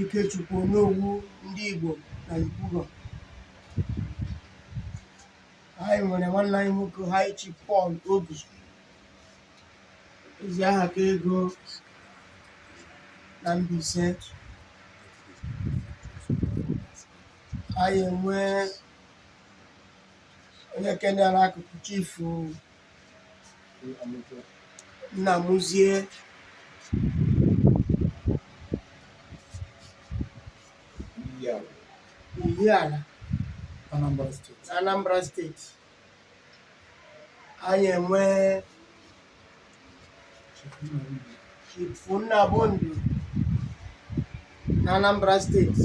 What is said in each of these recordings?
Ikechukwu Onowu ndị Igbo na Yopougon anyị nwere nwanne anyị nwoke High Chief Paul Ogu ezi aha ka ego na Mbaise anyị enwee onye ke nọ n'akụkụ chifu Nnamuzie Ihiala Anambra steeti anyị enwee Chifu Nnabụndụ na Anambra steeti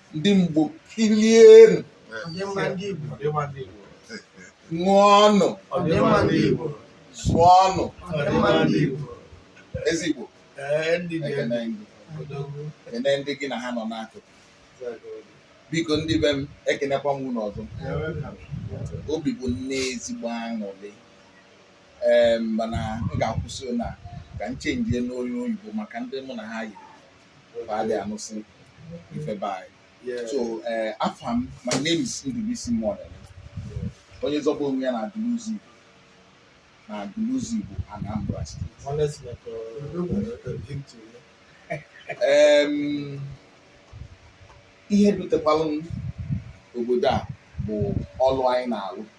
ndị Igbo kilienu ṅụọnụ zụọnụ Eze Igbo na ndị gị na ha nọ n'akụkụ biko ndị be m ekenekwa m unu ọzọ obi bụ m nne ezigbo aṅụrị ee mana m ga-akwụsị na ka m chenjie n'onu oyibo maka ndị mụ na ha yi fa adị anụsị ife be anyị so eh, afa m my name is Ndubuisi Muonemeh onye zọba onwe ya na Aguluzigbo na Aguluzigbo Anambra steeti. Em, ihe dutekwalụ m obodo a bụ ọlụ anyị na-alụ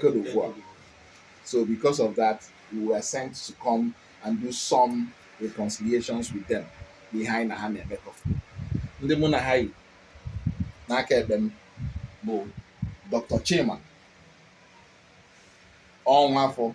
Côte d'Ivoire. So because of that, we were sent to come and do some reconciliations with them ihe anyị na ha na-emekọ. Ndị mụ na ha yi n'aka ekpe m bụ Dr. Chima Ọnwafọ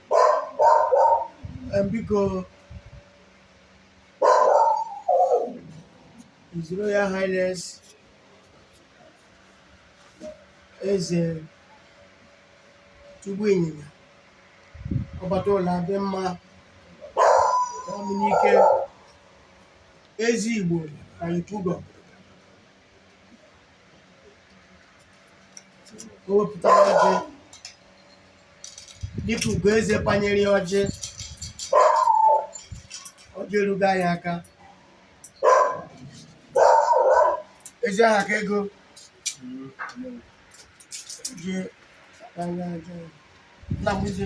biko His Royal Highness Eze Chukwu Ịnyịnya ọbata ụlọ adị mma n'ike Eze Igbo na Yopougon o wepụtara ọjị dịka Ugoeze panyere ya ọjị ọjị erugo anyị aka ezi aha ka ego je anya aja Nnamuzie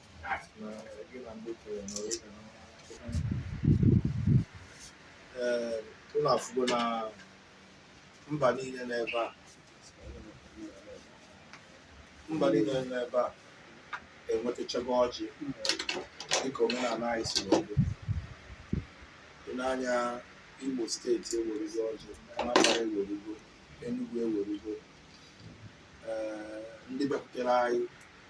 ee unu afụgo na mba niile n'ebe a mba niile n'ebe a enwetachago ọjị dịka omenala anyị si wee dị dị n'anya Imo steeti ewerugo ọjị Anambra ewerugo Enugu ewerugo ee ndị bịakwutere anyị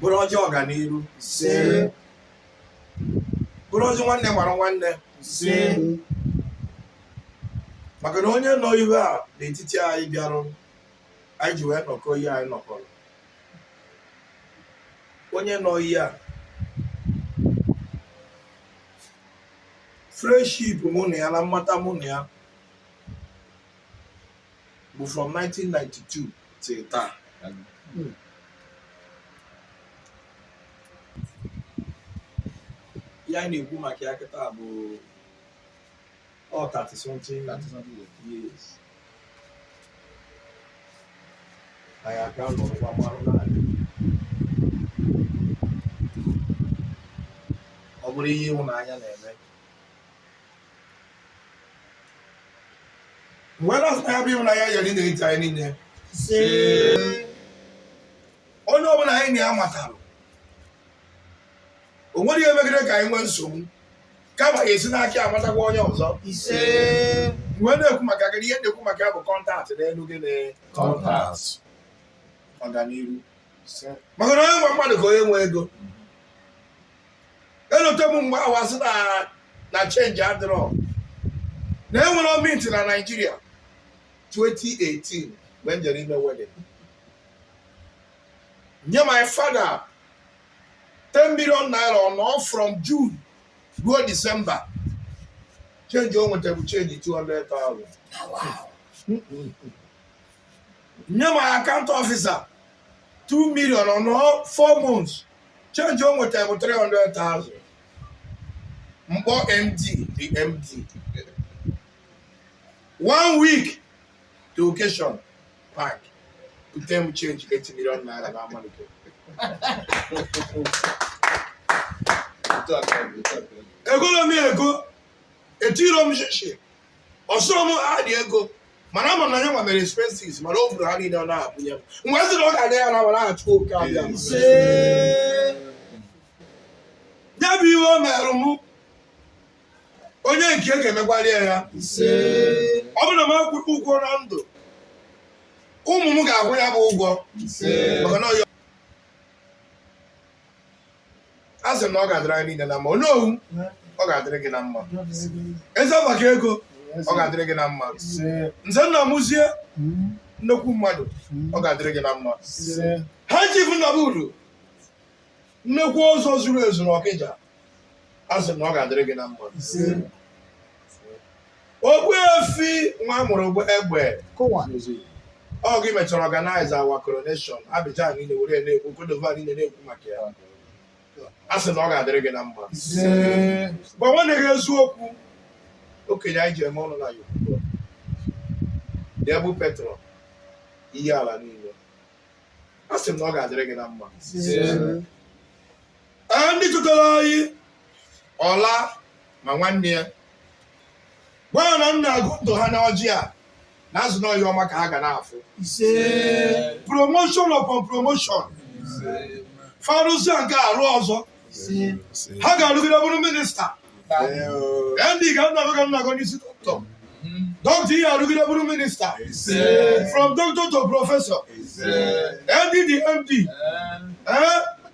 bụrụ ọjị ọganiru ise bụrụ ọjị nwanne mara nwanne ise maka na onye nọ ihe a n'etiti anyị bịarụ anyị ji wee nọkọ ihe anyị nọkọrọ onye nọ ihe a friendship mụ na ya na mmata mụ na ya bụ from 1992 till taa hmm. ihe a na-ekwu maka ya kịta bụ ọ 30 something years anyị aka nọrọkwa mmanụ naanị ọ bụrụ ihe ịhụnanya na-eme wee na-asị na ya bụ ịhụnanya ya dịrị n'etiti anyị niile onye ọbụla anyị na ya matara o nwere ihe megide ka anyị nwee nsogbu kama ya esi n'aka ya amatakwa onye ọzọ ise mgbe na-ekwu maka gị ihe na-ekwu maka ya bụ contact na-edu gị na contact ọganiru maka na onye nwe mmadụ ka onye nwe ego elote m mgbe ahụ asị na change adịrọ na enwerọ mint na Nigeria 2018 mgbe m jere ime wedding nye my father 10 million naira ọ nọọ from june ruo december change o nweta bụ change 200,000 nye my account officer 2 million ọ nọọ 4 months change o nweta bụ 300,000 m kpọọ md the md one week to occasion bank bute m change 8 million naira na amalite egolo m ego etirọ m shishi ọsụrụ m ha dị ego mana ama m na ya nwa mere expenses mana o buru ha niile ọ na-ebunye m wee sị na ọ ga-aga ya na wara Chukwu oke abịama ya bụ ihe o merụ m onye nke e ga-emekwara ya ya ọ bụrụ na m akwụrọ ụgwọ na ndụ ụmụ m ga-akwụ ya bụ ụgwọ maka na ọ asị m na ọ ga-adịrị anyị niile na mma Onowu ọ ga-adịrị gị na mma eze maka ego ọ ga-adịrị gị na mma nze Nnamụzie nnekwu mmadụ ọ ga-adịrị gị na mma High Chief na uru nnekwu ọzọ zuru ezu n'Ọkịja asị m na ọ ga-adịrị gị na mma Ogbuefi nwa mụrụ bụ egbe Kụwa. ọ gị mechara organize our coronation Abidjan niile were na-ekwu Cote d'Ivoire niile na-ekwu maka ya asị m na ọ ga-adịrị gị na mma Ise. gwa nwanne gị eziokwu okenye anyị ji eme ọnụ na Yopougon debụ petrol Ihiala niile asị m na ọ ga-adịrị gị na mma Ise. Ee, ndị dọkịta anyị ọla ma nwanne ya gwa ya na m na-agọ ndụ ha n'ọjị a na-asị na ọ ihe ọma ka ha ga na-afụ promotion upon promotion fa rụsịa nke a rụọ ọzọ ha ga-arụgide bụrụ minista ndị ga nnago ga nnago n'isi dọkịta dọkịta ị ya-arụgide bụrụ minista from doctor to professor ndị dị md ee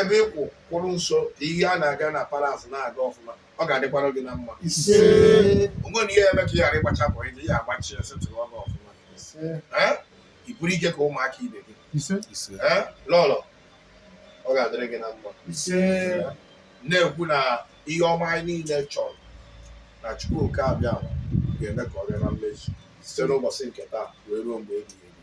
ebe ị kwụ kwụrụ nso ka ihe a na-aga na palace na-aga ọfụma ọ ga-adịkwara gị na mma o nwena ihe e me ka ị ghara ịgbachapụ ije ya agbachi esetụrụ ọnụ ọfụma ị bụrụ ike ka ụmụaka ibe gị lọlọ ọ ga-adịrị gị na mma na-ekwu na ihe ọma anyị niile chọrọ na Chukwu oke abịa ga-eme ka ọ bịa na mmezu site n'ụbọchị nke taa wee ruo mgbe ebighị ebi